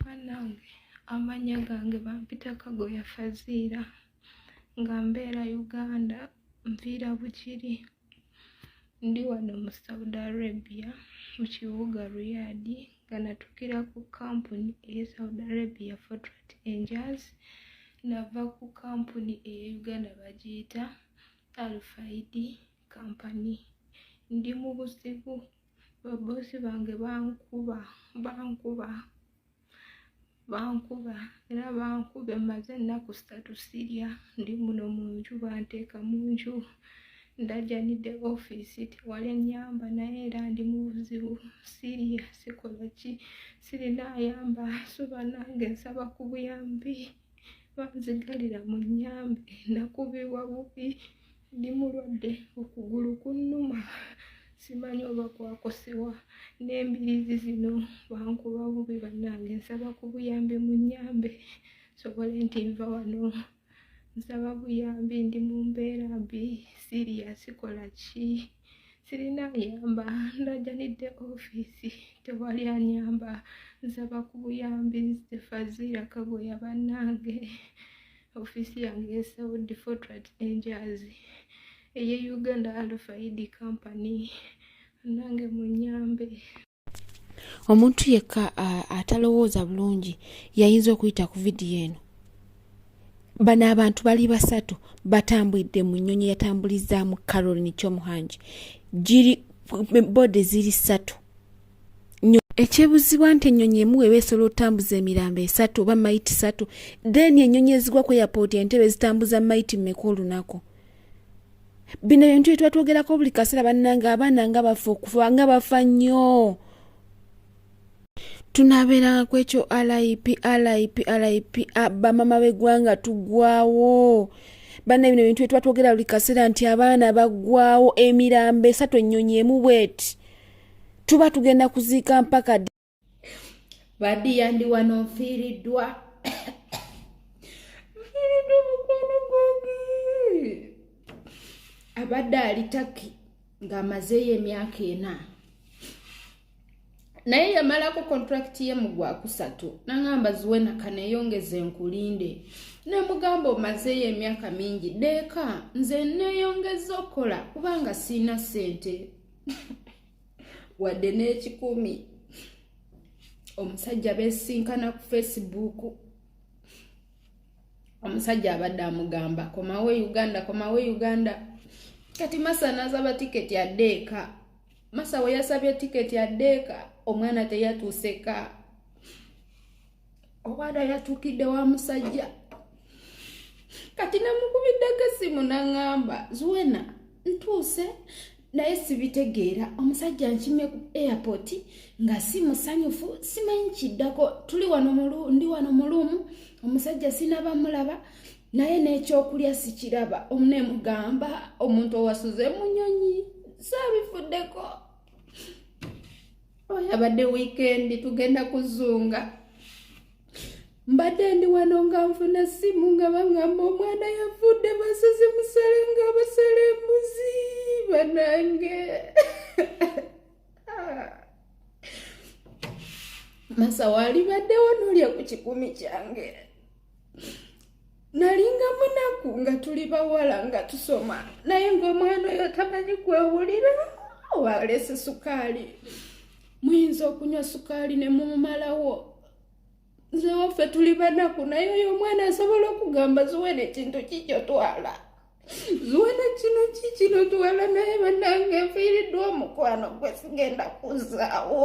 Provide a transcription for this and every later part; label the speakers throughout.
Speaker 1: banange amanya gange bampita kagoya faziira nga mbeera uganda nviira bukiri ndi wano mu saudi arabia mu kibuga riyadi nga natukira ku kampuni eye saudi arabia fotrat angels nava ku kampuni eye uganda bagiyita alfaidi kampani ndi mu buzibu babosi bange bankuba bankuba bankuba era bankuba emaze ennaku satu sirya ndi muno mu nju banteeka mu nju ndajanidde ofiisi tewali enyamba naye era ndi mu buzibu siriya sikola ki sirina ayamba suba nange nsaba ku buyambi banzigalira mu nyambe nakubibwa bubi ndi mulwadde okugulu kunnuma simanyi oba kwakosewa n'embirizi zino bankuba bubi bannange nsaba ku buyambi mu nyambe sobole nti nva wano nsaba buyambi ndi mu mbeera mbi siriya sikola ki sirina ayamba ndajanidde ofiisi tewali anyamba nsaba ku buyambi nze faziira kagoya bannange ofiisi yange esaudi fortrat enjazi eye uganda alfaidi company nange munyambe
Speaker 2: omuntu yekka atalowooza bulungi yayinza okuyita ku vidiyo eno bano abantu bali basatu batambulidde mu nnyonyi yatambulizaamu carolin kyomuhangi giri bode ziri satu ekyebuzibwa nti ennyonyi emu weba esobola otambuza emirambo esatu oba mayiti satu then ennyonyi ezigwa ku airport entebe zitambuza mayiti mmeka olunaku bino ebintu bye twatwogerako buli kaseera bannange abaana nga bafa okufa nga bafa nnyo tunabeeranga ku ekyo lip lip lip bamama b'eggwanga tugwawo banna bino ebintu bye tuba twogera buli kaseera nti abaana baggwawo emirambo esatu ennyonyi emu bweti tuba tugenda kuziika mpaka
Speaker 1: badiya ndi wano nfiiriddwa nfiiriddwa mukwano gwange abadde ali taki ng'amazeeyo emyaka ena naye yamalako kontrakiti ye mu gwakusatu nangamba ziwe nakaneyongeza enkulinde nemugamba omazeeyo emyaka mingi deeka nze neyongeza okukola kubanga siina sente wadde n'ekikumi omusajja besinkana ku facebook omusajja abadde amugamba komawo e uganda komawo e uganda kati masa nazaba tiketi adeeka masa weyasabye tiketi adeeka omwana teyatuuseka obwada yatukidde wa musajja kati namukubiddeko esimu naŋamba zuwena ntuuse naye sibitegeera omusajja nkime ku airport nga si musanyufu simanyi kiddako tuli wano ndi wano muluumu omusajja sinaba mulaba naye n'ekyokulya sikiraba omunemugamba omuntu owasuze munyonyi sabifuddeko yabadde wiikendi tugenda kuzunga mbadde ndi wano nga nfuna simu nga baŋamba omwana yavudde basozi musale nga basala embuzi banange masa waalibaddewo nolya ku kikumi kyange nalinga munaku nga tuli bawala nga tusoma naye ngaomwana oyo tamanyi kwewulira walese sukaali muyinza okunywa sukaali ne mumumalawo nze waffe tuli banaku naye oyo omwana asobola okugamba zuwe nekintu kikyo twala zuwe nekino kikino twala naye banange nfiiriddwa omukwano gwe sigenda kuzaawo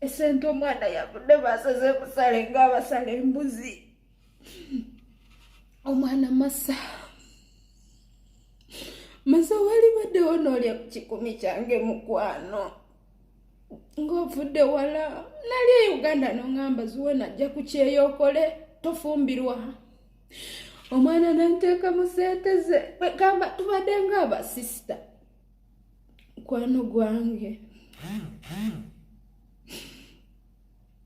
Speaker 1: esente omwana yavudde basaze musale ngaabasala embuzi omwana masa masa wali baddewo noolya ku kikumi kyange mukwano ng'ovudde wala nali e uganda noŋamba ziwe najja ku kyeyo okole tofumbirwa omwana nanteeka mu sente ze kwegamba tubadde ngaabasisita mukwano gwange